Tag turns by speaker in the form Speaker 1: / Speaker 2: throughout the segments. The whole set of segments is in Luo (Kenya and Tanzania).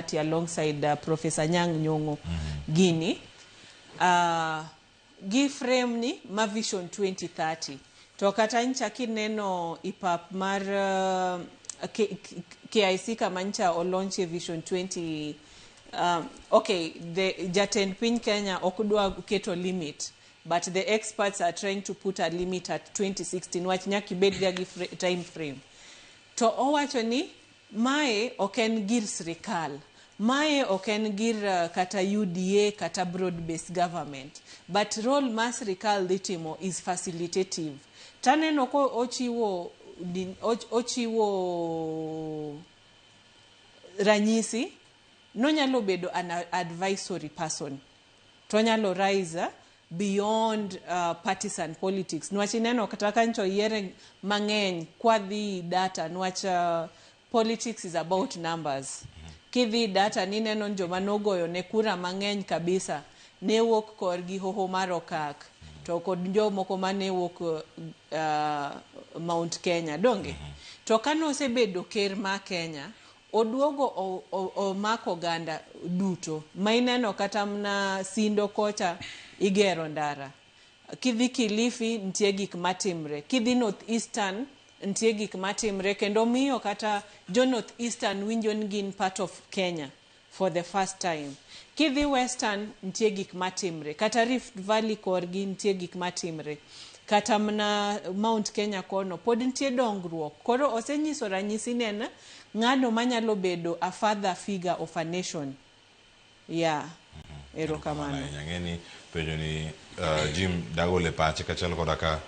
Speaker 1: party alongside uh, Professor Nyang Nyong'o mm -hmm. Gini uh, gi frame ni ma vision 2030 to kata ncha kineno ipap mar uh, KIC kama ncha olonche vision 20 um, okay the jatend piny Kenya ok dwa keto limit but the experts are trying to put a limit at 2016 wach nyaka ibedga gi time frame to owacho ni Mae ok en gir sirikal. Mae ok en gir kata UDA kata broad based government. But role ma sirikal dhi timo is facilitative. To aneno ka ochiwo ochiwo ranyisi ni onyalo bedo an advisory person. to onyalo rise beyond uh, partisan politics nwach ineno kata ka ncho yiere mang'eny kwadhi data nwach uh, politics is about numbers kidhi data nineno ni joma nogoyo ne kura mang'eny kabisa ne wuok korgi hoho mar okak to kod jomoko mane wuok uh, mount kenya donge to kane osebedo ker ma kenya Oduogo omako oganda duto ma ineno kata mna sindo kocha igero ndara, kidhi Kilifi nitie gik matimre, kidhi North Eastern nitie gik matimre kendo miyo kata jo North Eastern winjo ni gin part of Kenya for the first time. Kidhi Western nitie gik matimre, kata Rift Valley korgi nitie gik matimre, kata mna Mount Kenya kono pod nitie dongruok. Koro osenyiso ranyisi ni en Ng'ano manyalo bedo a father figure of a nation? Yeah. Erokamano Erokamano. ahinya. Ang'e ni
Speaker 2: penjo ni uh, Jim dagol e pache kachiel koda ka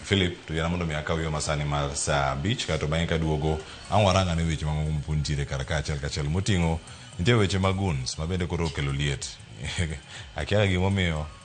Speaker 2: Philip to yana mondo mi akaw yo masani mar saa abich kato bang'e kaduogo ang' warang ane weche mamoko mopod nitiere kar ka achiel kachiel moting'o nitie weche mag guns ma bende koro okelo liet akiaga gimomiyo